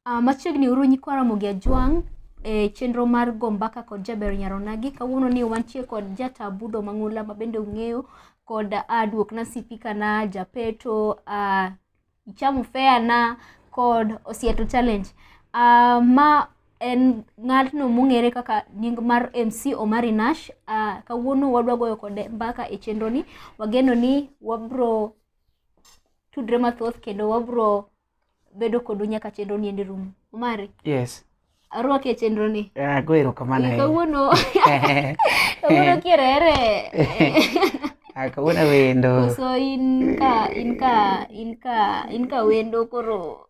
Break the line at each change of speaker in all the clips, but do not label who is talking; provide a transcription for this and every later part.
Uh, machiegni uru nyikwa Ramogi Ajwang' e chenro mar go mbaka kod Jaber Nyaronagi. Kawuono ni wantie kod Jata Budho Mang'ula ma bende ung'eyo kod uh, Duok na Sipika na Japeto uh, Ichamu Fair na kod Osieto Challenge uh, ma en ng'atno mong'ere kaka nying mar MC Omari Nash. Uh, kawuono wadwa goyo kode mbaka e chenroni, wageno ni wabro tudre mathoth kendo wabro bedo kodu nyaka chenro ni endi rumo omari yes
arwaki e chenro
ni ah, go erokamano eh,
kawuono
kawuono kierere
ah, kawuono wendo so in
ka in ka in ka in ka wendo koro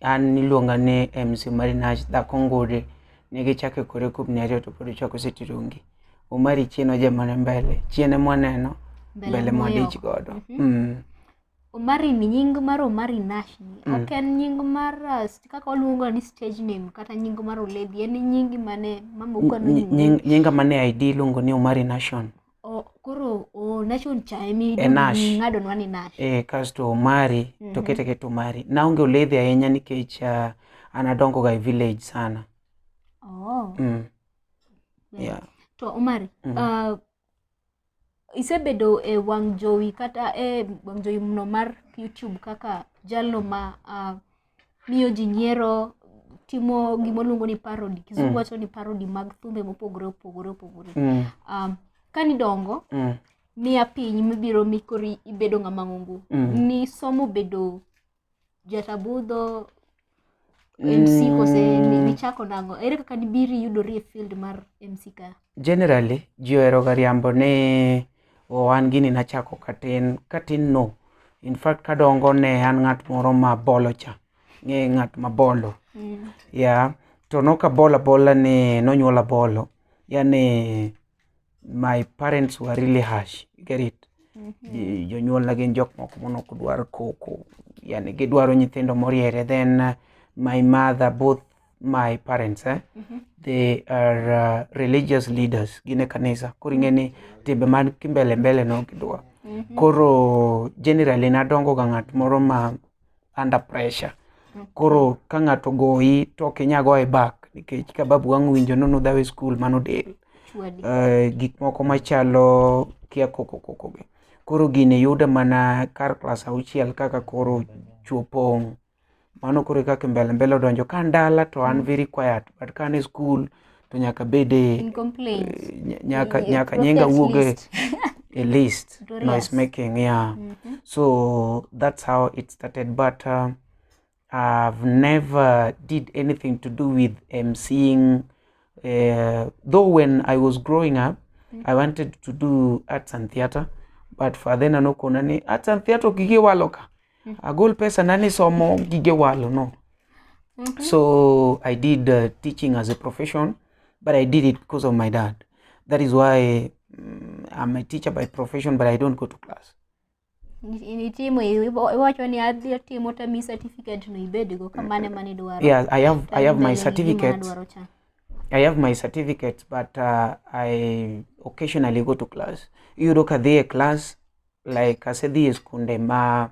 An niluonga
ni MC Omari Nash dhako ngure ne gichake kore kubni ariyo to pod ochako siti rungi. Omari chien ojemone mbele, chien ema waneno, mbele mwadich godo. Mhm. Mm.
Omari ni nying mar Omari Nash ni Mm. ok en nying mar uh, st- kaka waluongo ni stage name kata nying mar oledhi en nyingi mane mama ukwano Ny- nyingi. nying- Nyinga mane
ID iluongo ni Omari Nation. koro
nacho nchaemi ng'adonwa ni nash e eh, kasto omari
to mhm. kete kete omari naonge oledhi ahinya nikech uh, an adongoga e village sana oh. mm. yeah. to omari
mm -hmm. uh, isebedo e wang' jowi kata e wang' jowi mno mar youtube kaka jalno ma uh, miyo ji nyiero timo gima oluongo ni parody kizungu wacho ni parody mag thumbe mopogore opogore opogore Mm. um, ka nidongo Mm. miya piny mibiro mikori ibedo ng'ama ng'ongo Mm. ni somo bedo jatabudho mc kose ni- nichako nango ere kaka nibiri yudori e field mar mc ka Generally, ji
oheroga riambo ni oh, an gini nachako katin, katin no. In fact, kadongo ne an ng'at moro ma bolo cha. Ng'e ng'at ma bolo. Mm. Yeah. To nok abolo abola ni nonyuola bolo. Yani my parents were really harsh. You get it? Mm -hmm. Jonyuolna gin jok moko mono ok dwar koko. Yani gidwaro nyithindo moriere. Then uh, my mother both my parents eh? mm -hmm. they are uh, religious leaders gine kanisa koro ing'e ni timbe man kimbele mbele no gidwa mm -hmm. koro generally nadongo ga ng'at moro ma under pressure mm-hmm. koro ka ng'ato goyi to ok inya goye back nikech ka babu wang' winjo nono dhawe skul mano del uh, eh, gik moko machalo kia kokokokogi koro gini yuda mana kar klas auchiel kaka koro chuopong' mano koro kaka mbele mbele odonjo ka ndala to an mm. very quiet but ka an school to nyaka bede eh, nyaka nyaka nyinga wuoge a list noise making yeah mm -hmm. so that's how it started but uh, i've never did anything to do with um, seeing uh, though when i was growing up mm -hmm. i wanted to do arts and theater but for then anokona ni arts and theater ukigiwaloka Mm. Agol pesa nani somo gige walo no. Mm -hmm. So I did uh, teaching as a profession, but I did it because of my dad. That is why um, I'm a teacher by profession, but I don't go to class.
nitimo iwacho ni adhi atimo to mi certificate no
ibedgo kamane mane idwaro yeah i have i have my certificate i have my certificate but uh, i occasionally go to class yudo ka dhi e class like asedhi e skunde ma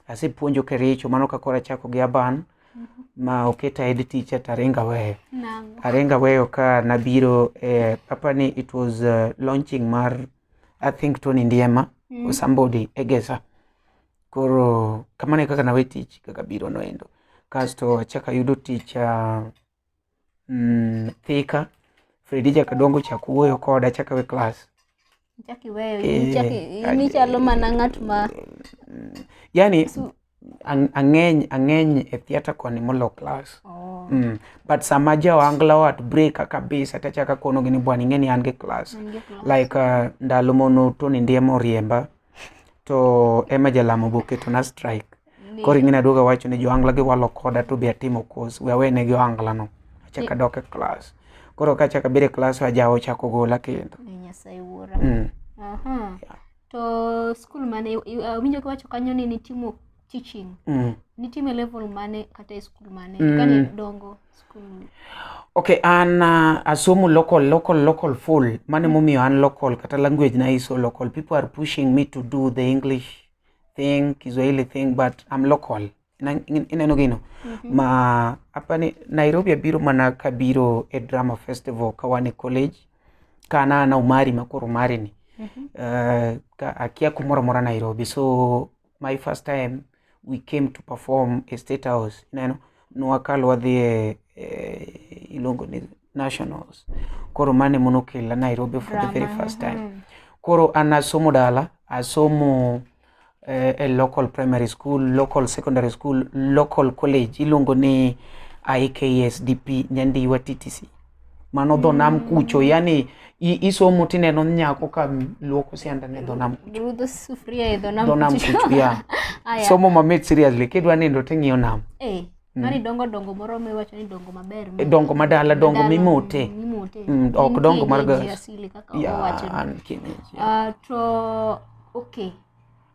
asepuonjo Kericho, mano ka koro achako gi Aban ma oketa head teacher to aringo aweyo. Nang'o? Aringo aweyo ka nabiro eh, apa ni it was uh, launching mar I think Tony Ndiema Mm. or somebody Egesa. Koro kamano e kaka nawe tich kaka biro noendo. Kasto achako ayudo tich uh, mm, Thika Fredi chaka dongo chako wuoyo koda chaka we class chaki
weyo Eh, chaki ad- ni chalo mana ng'at
ma
yani Su- ang- ang'eny
ang'eny e theatre koni molo class oh, mm. but sama jawangla wat breaka kabisa tachaka konogi ni bwana ing'e ni an gi class ningekuwa- like uh, ndalo mono Tony Ndiema oriemba to ema jalamo be oketona strike koro ing'eni aduoga wacho ni joangla giwalo koda to be atimo course we awene gi oangla no achaka dok e class koro ka achaka bire class ajawo ochako gola kendo Ni Nyasaye wuora. mm.
Aha. Yeah. To skul mane i- i- awinjo kiwacho kanyo ni nitimo teaching. Mm. Nitime level mane kata e skul mane? Mm. Kane dongo. Okay,
an uh, asomo local local local full mane momiyo an local kata language na iso local people are pushing me to do the English thing Kiswahili thing but I'm local Na- in- ineno gino ma apani Nairobi abiro mana kabiro e drama festival kawan e college kana na Umari ma koro Umari ni uh, ka akia kumoro amora Nairobi so my first time we came to perform a state house ineno nwakalo wadhi e eh, iluongo ni nationals koro mane monokela nairobi for the very first time mm. koro an asomo dala asomo eh, e local primary school local secondary school local college iluongo ni ikasdp nyandiwa ttc mano dho nam mm. kucho yani isomo tineno nyako ka luoko sianda ne dho nam kucho rudho sufuria e dho
nam dho nam kucho ya
somo mamit seriously kidwa nindo ting'iyo nam eh mm. mani dongo
dongo moro miwacho ni dongo maber eh, dongo madala dongo
mimote mimote mm, ok dongo mar gas ya an kineji
ah, to okay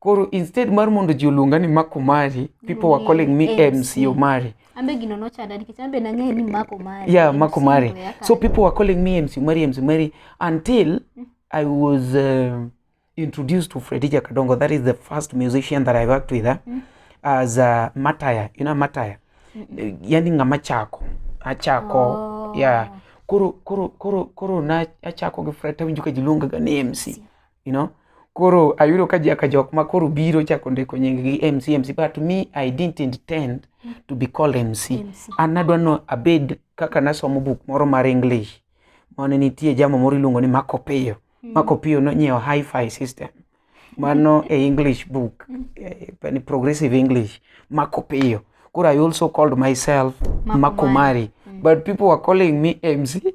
koro instead mar mondo ji oluonga ni Mark Omari people were calling me MC Omari ambe gino nochanda
nikech ambe nang'eyo ni Mark Omari yeah Mark Omari
so people were calling me MC Omari MC Omari until mm. I was uh, introduced to Fredija Kadongo that is the first musician that I worked with eh? mm. as uh, Mataya you know Mataya mm -mm. yani ng'ama chako achako oh. yeah koro koro koro koro na achako gi Fred tawinjo ka jiluonga ga ni MC you know koro ayudo ka jaka jok ma koro biro chako ndiko nying gi mc mc but me i didn't intend to be called mc MC. an nadwa no abed kaka nasomo buk moro mar english mane nitie jamo moro iluongo ni marco pio marco pio nonyiewo hi-fi system mano e english book eh, pani progressive english marco pio koro i also called myself Marco marco mari but people were calling me mc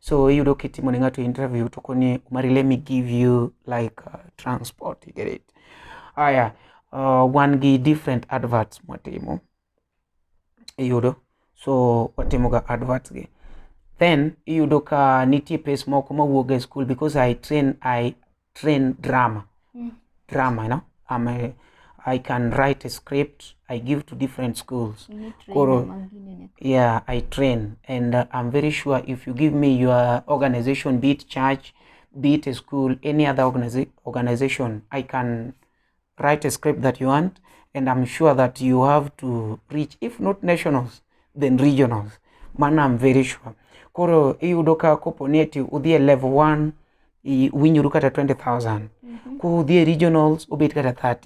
so iyudo kitimo ne ng'ato interview to koni umari let me give you like uh, transport you get it aya uh, wan gi different adverts mwatimo iyudo so watimoga adverts gi then iyudo ka nitie pes moko mawuoga e school because i train i train drama Mm. drama you know I'm a, i can write a script i give to different schools Ni trainer Koro- mwingine ni- yeah i train and uh, i'm very sure if you give me your organization be it church be it a school any other organiza- organization i can write a script that you want and I'm sure that you have to reach if not nationals then regionals mana I'm very sure koro iyudo ka kopo ni eti udhi e level 1 winyoru kata 20000 mm -hmm. ku udhi e regionals obet kata 30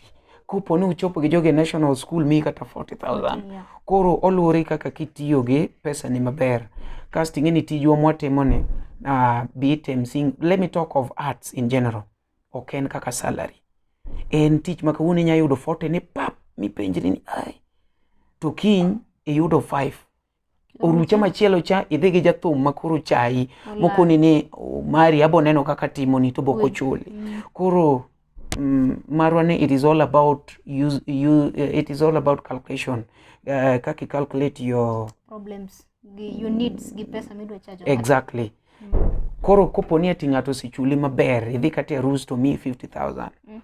kopo ni uchopo gi joge national school mi kata 40000 yeah. koro oluwore kaka kitiyo gi pesa ni maber kasto ing'e ni tijwa mwatimo ni uh, be it msing let me talk of arts in general ok en kaka salary en tich ma kawuono inya yudo forte ni pap mipenjri ni ai to kiny iyudo five orucha machielo cha idhi gi jathum ma koro chayi mokoni ni oh, mari abo neno kaka timoni to bok ochuli mm. koro mm, marwa ni it is all about use, you, it is all about calculation uh, kaka calculate your problems gi
units gi pesa midwa charge. Exactly. Mm.
Koro kopo ni ati ng'ato osechuli maber, idhi kata e rus to miyi 50,000. Mm.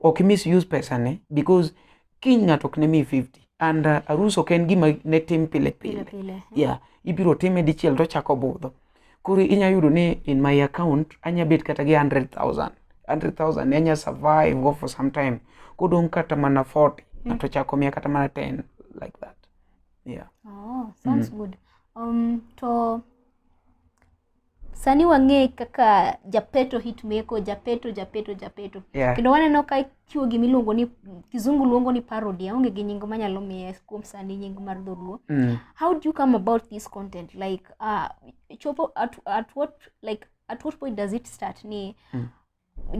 Ok misuse pesa ne because kiny ng'ato ok ne miyi 50 and uh, arus ok en gima ne tim pile pile. pile, pile. Yeah. Ibiro time dichiel to chako budho. Koro inya yudo ni in my account anya bet kata gi 100,000. 100,000 ne anya survive go for some time. Kodong' kata mana 40 mm. ng'ato chako miya kata mana 10 like that. yeah. oh, sounds
mm. good um, to sani wang'e kaka japeto hitmeko japeto japeto japeto yeah. kendo waneno
ka ichiwo
gima iluongo ni kizungu luongo ni parody aonge gi nying manyalo miye kuom sani nying mar dholuo mm. how do you come about this content like uh, chopo at, at what like at what point does it start ni mm.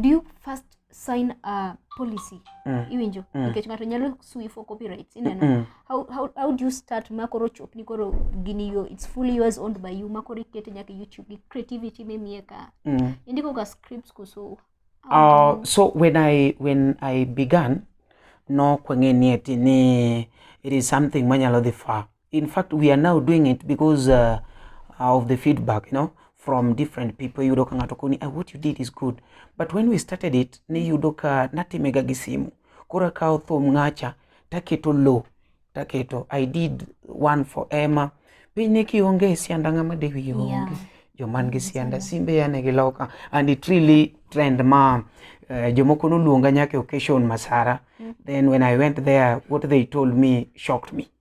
do you first sign a policy mm. iwinjo mm. nikech ng'ato nyalo sui for copyrights ineno mm. how, how, how do you start ma koro chopni koro gini yo it's fully yours owned by you ma koro ikete nyaka youtube gi creativity mimie ka mm. indiko ga scripts kuso uh, so
when i when i began no kwang'e ni eti ni it is something manyalo dhi far in fact we are now doing it because uh, of the feedback you know from different people yudo ka ng'ato koni ah, what you did is good but when we started it ni yudo ka natimega gi simu koro akawo thum ng'acha taketo low taketo i did one for emma piny ne kionge e sianda ng'ama de wiye onge yeah. joman gi sianda simbe yane gi loka and it really trend ma uh, jomoko noluonga nyaka occasion masara mm. then when i went there what they told me shocked me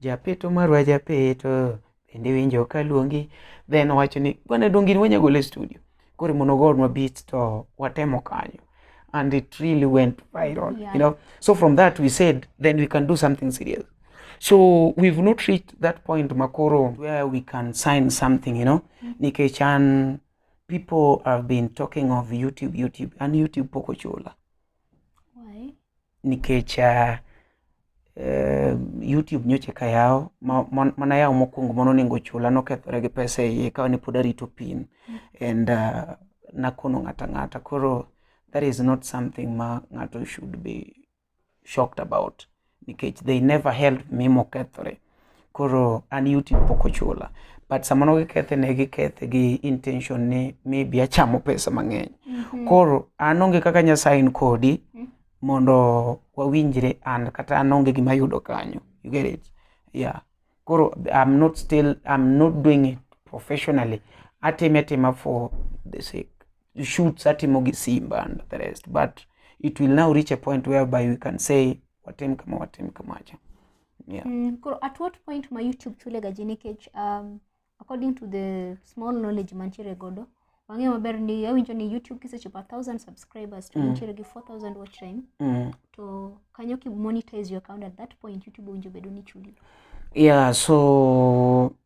Japeto marwa japeto bende winjo ka luongi then owacho ni bwana donge in wanya gole studio koro mondo ogonwa beat to watemo kanyo and it really went viral yeah. you know so from that we said then we can do something serious so we've not reached that point makoro where we can sign something you know mm -hmm. nikech an people have been talking of youtube youtube and youtube pok ochula
nikech uh,
uh, YouTube nyocha ka yaw mana yaw mokwongo mano onego chula nokethore gi pesa e iye kawa ne pod arito pin mm. and uh, nakono ng'ata ng'ata koro that is not something ma ng'ato should be shocked about nikech they never helped me mokethore Koro an YouTube pok ochula but samoro gikethe ne gikethe gi intention ni maybe achamo pesa mang'eny. Mm -hmm. Koro an onge kaka nyasain kodi mm -hmm. mondo wawinjre an kata an onge gima yudo kanyo. You get it? Yeah. Koro I'm not still I'm not doing it professionally. Atime atima for the sake. The shoots atimo gi Simba and the rest but it will now reach a point whereby we can say watim kama watim kamacha. yeah. Mm, koro at what
point ma YouTube chule gaji nikech um, according to the small knowledge mantiere godo wang'e maber ni awinjo ni YouTube kisechopo a thousand subscribers to Mm. nitiere gi 4000 watch time Mm. to kanyo ki monetize your account at that point YouTube owinjo bedo ni chuli yeah so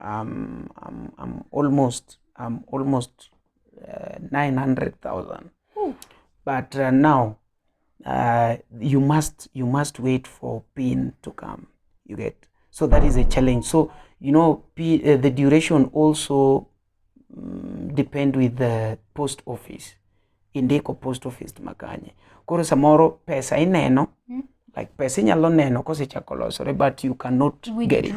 I'm, I'm, I'm almost I'm almost uh, 900,000. But uh, now uh, you must you must wait for pain to come. You get so that is a challenge. So you know P, uh, the duration also um, depend with the post office indiko post office makanye koro samoro pesa ineno mm. like pesa inyalo neno kosechako losore but you cannot Withdraw. get it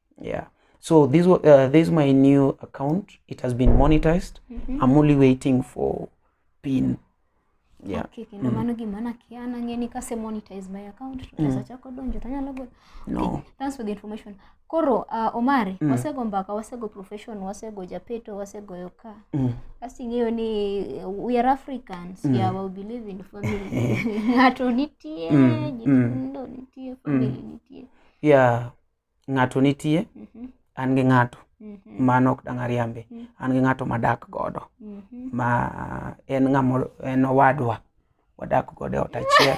yeah so this wa- uh, this is my new account it has been monetized Mhm. i'm only waiting for pin yeah Okay, kendo mano
gima nakia nang'e ni kase monetize my account to pesa chako donjo tanyalo golo no thanks for
the information
koro uh, omari wasego mbaka wasego profession wasego japeto wasego yoka mm. kasi ing'eyo ni eh, we are africans mm. yeah, we believe in family ng'ato nitie Mm, mm. nyithindo nitie family nitie yeah
ng'ato nitie Mhm. an gi ng'ato Mhm. mano ok dang' ariambe Mhm. an gi ng'ato madak godo Mhm. ma en ng'amo en owadwa wadak godo e ot achiel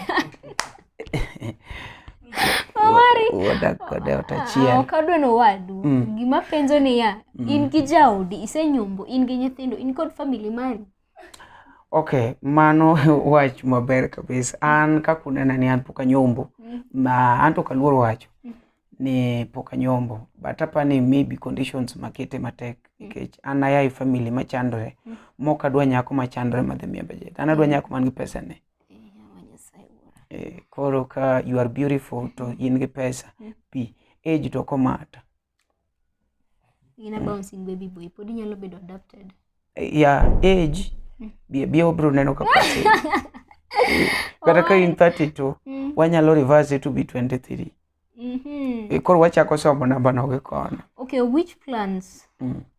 Omari. wadak godo e ot Ah, achiel ok adwa ni owadu
Mm. gima penjo niya Mm. in gi jaodi isenyombo in gi nyithindo in kod famili mari Okay,
mano wach maber kabisa. An kaka unena ni an pok anyombo, mm. ma an to ok aluor wacho mm. ni pok anyombo, but apa ni maybe conditions makete matek mm. nikech an aya e family machandore mm. mok adwa nyako machandore madhi miya budget. An adwa mm. nyako man gi pesa ne. Eh, koro ka you are beautiful to in gi pesa, mm. pi age to komata.
in a bouncing baby boy pod inyalo bedo adopted ya
age mm. bie bie obro neno ka pasi kata ka in 32 mm. wanyalo reverse it to be 23 mm -hmm. koro wachako somo namba nogo kono okay which
plans mm.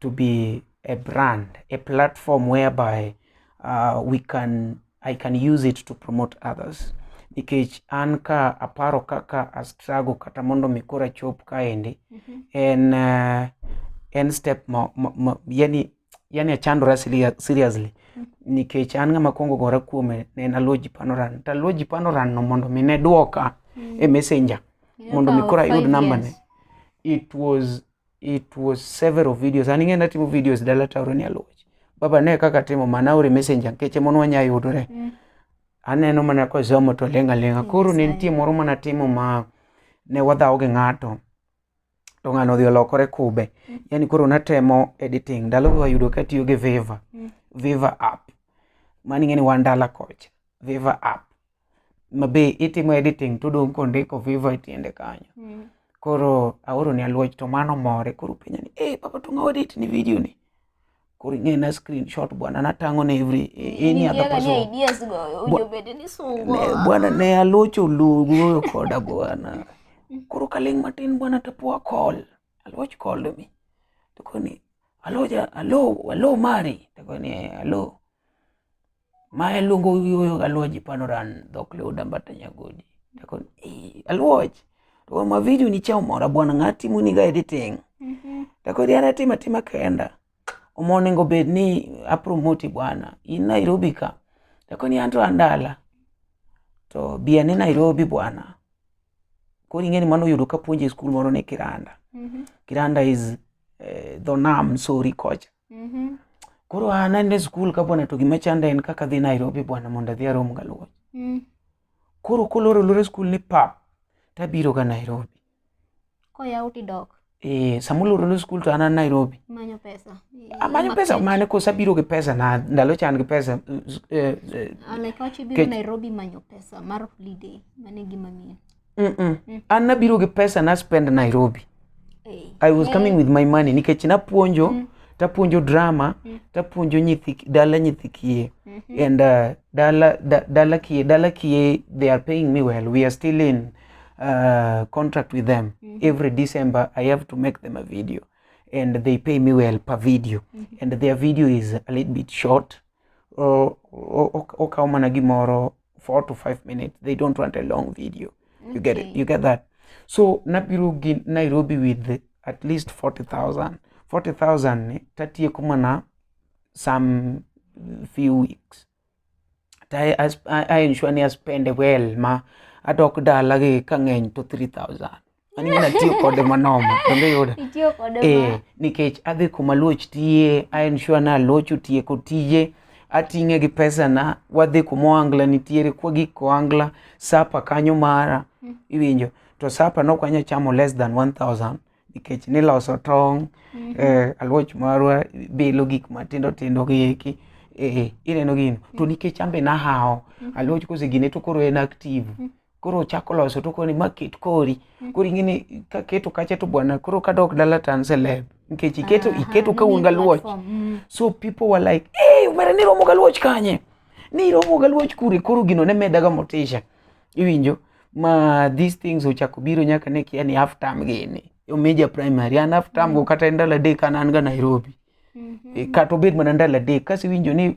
to be a brand, a platform whereby uh, we can I can use it to promote others nikech an ka aparo kaka a struggle kata mondo mi kora chop kaendi mm -hmm. en uh, en step ma, ma, ma, yani yani achandora seriously mm -hmm. nikech an ng'ama kwongo gora kuome ne en Aluoji Panoran to Aluoji Panoran no mondo mi ne dwoka mm -hmm. e messenger mondo mi kora ayud namba ne it was it was several videos an ing'e natimo videos dala taoro ni aluoch baba ne kaka timo mana ore messenger nkeche mon wanya yudore mm. aneno mana kosomo to lenga lenga koro ne nitie moro mana timo ma ne wadhawo gi ng'ato to ng'ano odhi olokore kube mm. yani koro natemo editing ndalo wayudo katiyo gi viva mm. viva app mani ng'eni wan dala kocha viva app ma be itimo editing to odong' kondiko viva e tiende kanyo Mm. koro aoro ni aluoch to mano more koro penja ni eh papa to ng'awa edit ni video ni koro ing'e na screenshot bwana natang'o ne every eh, any other Ingiaga ni person ideas go owinjo
bed ni sungo. Ne- bwana ne alocho
lugoyo koda bwana koro kaling matin bwana tapoa call aloch call mi tokoni aloja alo alo mari tokoni alo Mae luongo yuoyo galuoji panoran dhok leuda mbata nyagodi. Dakon, eh, aluoch. To ma video ni chao mora bwana ngati muni ga editing. Dakon, yana tima tima kenda. Omo nengo bed ni apromoti bwana. In Nairobi ka. Dakon, yanto andala. To biya ni Nairobi bwana. Kori ngeni mano yudo ka puonje school moro ne Kiranda. Kiranda is eh, dho nam sori kocha. Mhm. Koro an ande skul ka bwana to gima chanda en kaka dhi Nairobi bwana mondo adhi arom galuo. Mm. Koro koloro loro skul ni pap tabiro ga Nairobi. Koyaw
tidok. Eh, samuloro loro
skul to an an Nairobi. Manyo pesa.
Amanyo pesa
mane kosa biro gi pesa na ndalo chan gi pesa. Eh, eh, Alekachi biro
Kech- Nairobi manyo pesa mar holiday. Mane gima miyo. Mm-mm. an nabiro gi pesa na spend nairobi i was coming with my money nikech napuonjo tapuonjo drama tapuonjo nyithi dala nyithi kiye and uh, dala da, dala kiye dala kiye they are paying me well we are still in uh, contract with them every december i have to make them a video and they pay me well per video and their video is a little bit short or okawo mana gimoro four to five minutes they don't want a long video okay. you get it you get that so
nabiro gi nairobi with at least 40000 40000 ni tatieko mana some few weeks I, I, I ensure ni aspende well ma adok dala gi kang'eny to 3000 An mimi natiyo kode manoma kendo yuda Itiyo kode eh, ma.
nikech adhi
kuma luoch tiye a ensure na luoch otieko tije ating'e gi pesana wadhi kuma oangla nitiere kwagik koangla sapa kanyo mara iwinjo to sapa nok wanya chamo less than 1000 nikech niloso tong' eh, aluoch marwa bilo gik matindo tindo gi eki eh, ineno gino to nikech ambe nahawo aluoch kosegine to koro en active koro ochako loso to koni ma ket kori mm. koro ing'eni ka keto kacha to bwana koro kadok dala to an celeb nikech iketo ah, iketo ka un galuoch mm. so people were like hey umera ni romo galuoch kanye ni romo galuoch kure koro gino ne medaga motisha iwinjo ma these things ochako biro nyaka ne kia ni half term gini omeja primary an half term go mm. kata ndalo adek an an ga Nairobi mm-hmm. e, kata obed mana ndalo adek kasiwinjo ni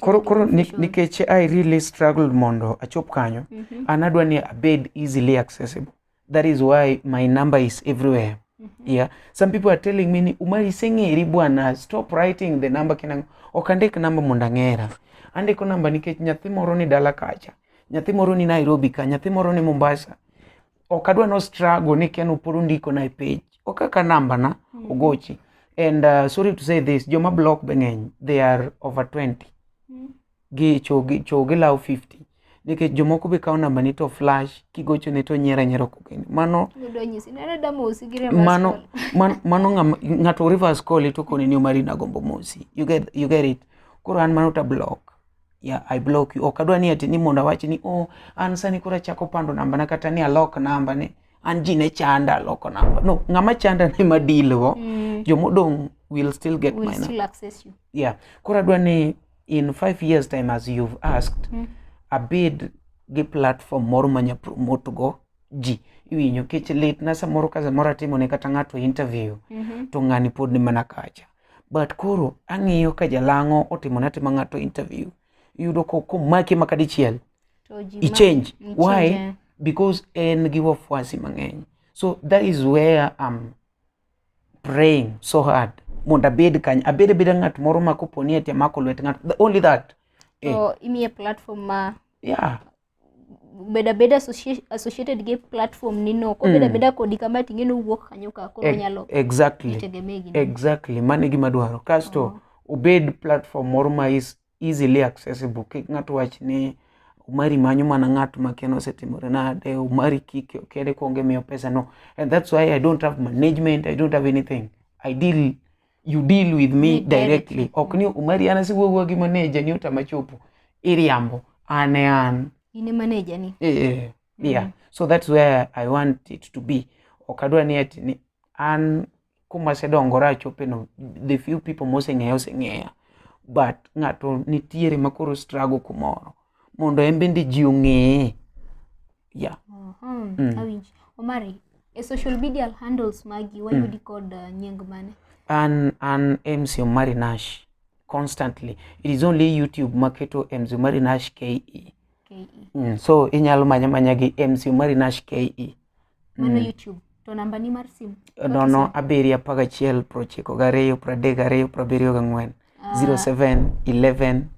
koro
nikech i really struggled mondo achop kanyo mm -hmm. an adwa ni abed easily accessible that is why my number is everywhere mm -hmm. yeah some people are telling me ni umar iseng'eri bwana stop writing the number kinang ok andik namba mondo ang'era andiko namba nikech nyathi moro ni dala kacha nyathi moro ni nairobi ka nyathi moro ni mombasa ok adwa no struggle ni ken uporo ndiko na e page ok aka namba na mm. ogochi and uh, sorry to say this joma block be ng'eny they are over 20 mm. gi chogi chogi law 50 nikech jomoko be kawo namba ni to flash kigocho ne to nyera nyera kokeni mano mano mano ng'ato reverse call to koni ni omari na gombo mosi you get you get it koro an mano ta block ya I block you. Ok adwa ni ati ni mondo awach ni oh an sani koro achako pando namba na kata ni alok namba ni an ji ne chanda aloko namba. No, ng'ama chanda ni ma deal go. Mm. Jomodong will still get will my still number. access you. Yeah.
Koro adwa
ni in five years time as you've asked mm. abed gi platform moro manya promote go ji iwinyo kech lit na samoro ka samoro atimo ne kata ng'ato interview mm -hmm. to ng'ani pod ni mana kacha but koro ang'iyo ka jalang'o otimone atima ng'ato interview yudo komaki maka dichiel ichange why eh. because en gi wafuasi mang'eny so that is where I'm praying so hard mondo abed kany abed abeda ng'at moro ma koponi ati amako lwet ng'ato only that eh. so, eh. imiye
platform ma yeah
beda
beda associated gi platform ni no ko beda mm. beda kodi kama tinge no wuok kanyo ka koro e, nyalo exactly
exactly mane gima dwaro kasto oh. obed platform moro ma is easily accessible kik ng'ato wach ni umari manyo mana ng'at ma keno osetimore nade umari kike kede konge miyo pesa no and that's why i don't have management i don't have anything i deal you deal with me directly ok ni umari an asiwuowuo gi maneja ni utamachopo iriambo an e an in e maneja
ni eh, eh, eh. Mm. yeah
so that's where i want it to be ok adwa ni ati ni an kuma asedongora achopeno the few people moseng'eya oseng'eya but ng'ato nitiere makoro strago kumoro mondo en bende ji ong'eye yeah. Mhm, Mm. awinj.
Omari, e social media handles magi wayudi kod uh, nying mane? an an
mc omari nash constantly it is only youtube maketo mc omari nash ke KE. mm. so inyalo manya manya gi mc omari nash ke mano mm. youtube
to namba ni mar simu nono abiriyo
apar gachiel prochiko gariyo pradek gariyo prabiriyo gang'wen ah. zero seven eleven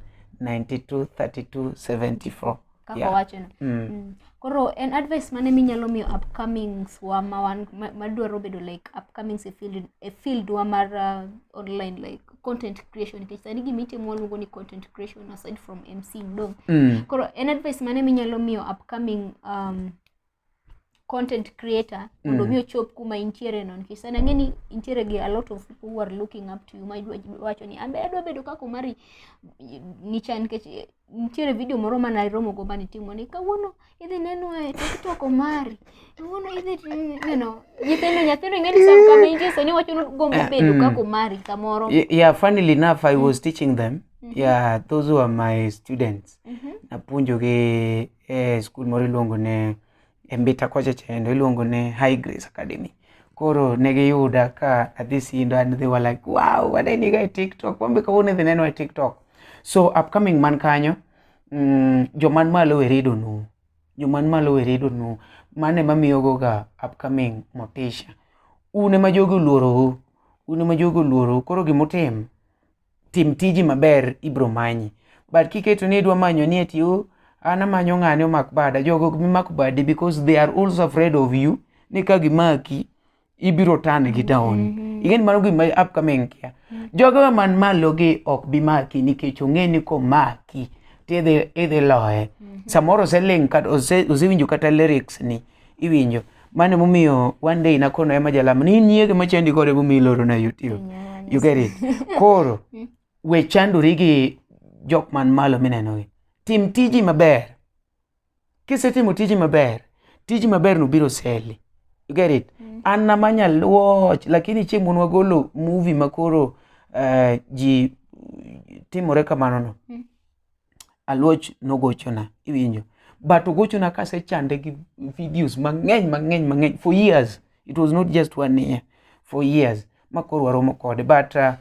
ninety two thirty two seventy four kaka yeah. wachono mm.
mm. koro en advice mane minyalo miyo upcomings wa mawan madwaro bedo like upcomings e field, e field wa mar uh, online like content creation nikech sani gima itimo waluongo ni content creation aside from mc dong mm. koro en advice mane minyalo miyo upcoming um, content creator mondo mm. mi ochop kuma intiere no nikech sana ngeni intiere gi a lot of people who are looking up to you ma wacho ni ambe adwa bedo kaka Omari nicha nikech eh, nitiere video moro ma naromo go mane timo ni kawuono idhi neno e TikTok Omari kawuono idhi neno nyithindo nyathino ing'eni sam kama intie sani wacho ni gombo eh, bedo mm. kaka Omari kamoro yeah funnily
enough I was mm. teaching them mm-hmm. yeah those who are my students mm-hmm. napuonjogi e skul moro iluongo ne e Mbita kocha chendo iluongo ne High Grace Academy. Koro ne giyuda ka adhi sindo and they were like wow waneni ga e TikTok wambe kawuono idhi neno e TikTok. So upcoming man kanyo mm, joman malo we read onu joman malo we read onu mane mamiyogo ga upcoming motisha. Une ma jogi oluorou une ma jogi oluorou koro gimutim tim tiji maber ibro manyi but kiketo ni idwa manyo ni eti oh, an amanyo ng'ane omak bada jogo ok bimak badi because they are also afraid of you ni ka gimaki ibiro tan gi down mm -hmm. ing'eni mano gima upcoming kia mm -hmm. jogo man malo gi ok bimaki nikech ong'e ni komaki tidhi idhi loye mm -hmm. samoro oseling osewinjo kata lyrics ni iwinjo mano emomiyo one day nakono ema jalamo ni in yiege machandi koro emomiyo iloro na youtube you get it koro we chandori gi jok man malo minenogi tim tiji maber kisetimo tiji maber tiji maber no biro seli you get it an nama nyal watch lakini chieng' mon wagolo movie makoro eh, ji timore kamano no Aluoch nogochona, iwinjo. But ogochona kasechande gi videos mang'eny mang'eny mang'eny for years. It was not just one year, for years. Ma koro waromo kode. But uh,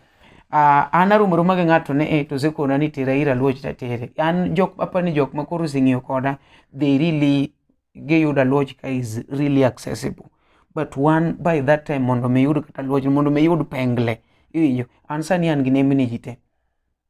uh, an aromo roma gi ng'ato ne eh, to osekona ni tera ir Aluoch tatere. An jok apani jok ma koro oseng'iyo koda, they really giyudo Aluoch ka is really accessible. But one by that time mondo mi iyud kata Aluoch, mondo mi iyud pengle. Iwinjo? An sani an gi nembni ji te.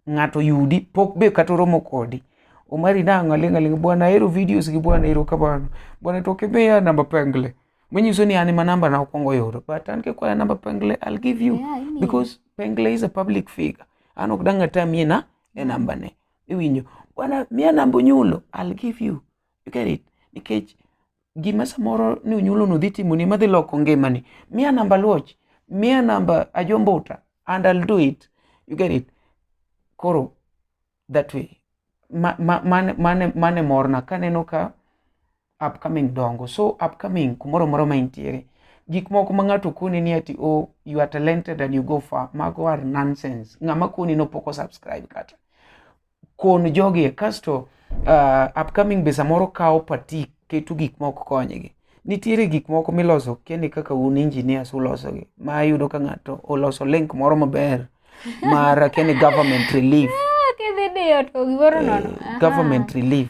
ng'ato yudi pok be kata oromo kodi omari nang'o aling' aling' bwana ahero videos gi bwana ero kamano bwana to kimiya namba pengle manyiso ni an ma namba na okwongo yudo but an kikwaya namba pengle i'll give you yeah, I mean. because
pengle
is a public figure an ok dang' ata mie na e namba ne iwinjo bwana miya namba onyulo i'll give you you get it nikech gima samoro ni unyulo no dhi timoni madhi loko ngimani miya namba luoch miya namba ajombuta and I'll do it you get it koro that way ma, ma, mane, mane, mane morna kaneno ka upcoming dongo so upcoming kumoro moro ma intiere gik moko ma ng'ato koni ni ati o oh, you are talented and you go far mago are nonsense ng'ama koni no poko subscribe kata kon jogi kasto uh, upcoming be samoro kawo patik keto gik ma ok konygi nitiere gik moko miloso kende kaka un engineers ulosogi ma yudo ka ng'ato oloso link moro maber mar kende government relief ah, eh, government relief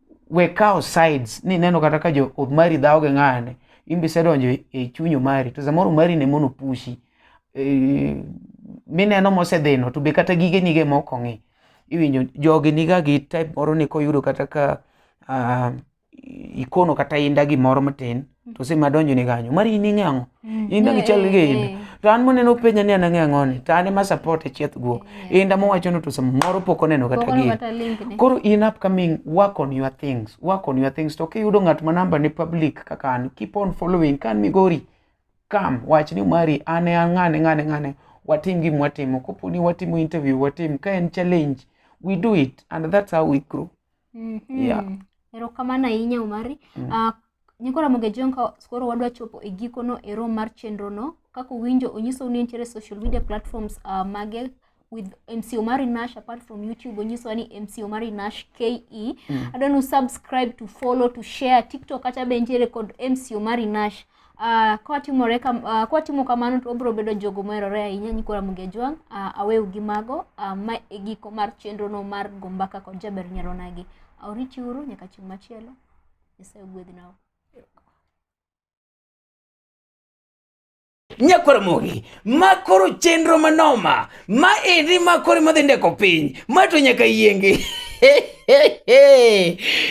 we kawo sides ni neno kata ka jo omari dhawo gi ng'ane imbe isedonjo e, e chuny omari to samoro omari ne mono pushi e, mineno mosedhino to be kata gige nige moko ng'i iwinjo jogi niga gi type moro ni koyudo kata ka uh, ikono kata inda gimoro matin to si madonjo ni kanyo mari in ing'e ang'o mm. in dagi chal gi in eh, eh. to an moneno penja ni an ang'e ang'o ni to an ema support e chieth guok eh, inda mowacho no to sama moro pok oneno kata gi koro in upcoming work on your things work on your things to kiyudo ng'at ma namba ni public kaka an keep on following kan migori kam wach ni mari an e ang'ane ng'ane ng'ane watim gima watimo kopo ni watimo interview watim ka en challenge we do it and that's how we grow mm -hmm. yeah erokamano
ahinya umari mm. uh, Nyako Ramogi Jong ka koro wadwa chopo e gikono e room mar chenrono, kaka uwinjo onyisou ni nitiere social media platforms uh, mage with MC Omari Nash apart from YouTube onyisowa ni MC Omari Nash KE. Mm. Adwa ni subscribe to follow to share TikTok kata be nitiere kod MC Omari Nash. Uh, kwatimore kam, uh, kwatimo kamano to obiro bedo jogo moherore ahinya Nyiko Ramogi Ajwang' uh, aweu gi mago uh, ma e giko mar chenrono mar Gombaka kod Jaber Nyaronagi. Auriti uru nyaka chieng' machielo. Nyasaye
ogwedh nao. nyakwar mogi ma koro chenro manoma ma endi ma koro madhi ndeko piny ma to nyaka yiengi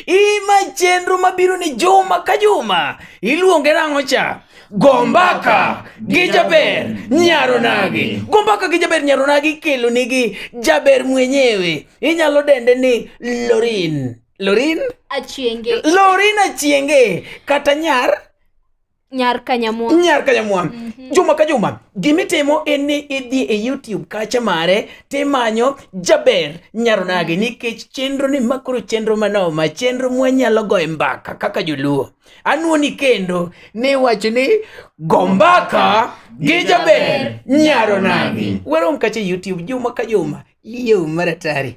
ima chenro mabiro ni juma ka juma iluonge nang'o cha gombaka gi jaber nyaronagi gombaka gi jaber nyaronagi kelonigi jaber mwenyewe inyalo dende ni lorin Lorin Achienge. Lorin Achienge kata nyar
Nyar Kanyamwa. Nyar Kanyamwa. Mm -hmm. Juma ka juma
gimitimo en ni idhi e YouTube kacha mare timanyo Jaber Nyaronage mm -hmm. nikech chenro ni makoro chenro manoma chenro mwanyalo goye mbaka kaka joluo anuoni kendo ni wacho ni gombaka gi Jaber Nyaronage. Werom kacha YouTube juma ka juma Yau mara tare.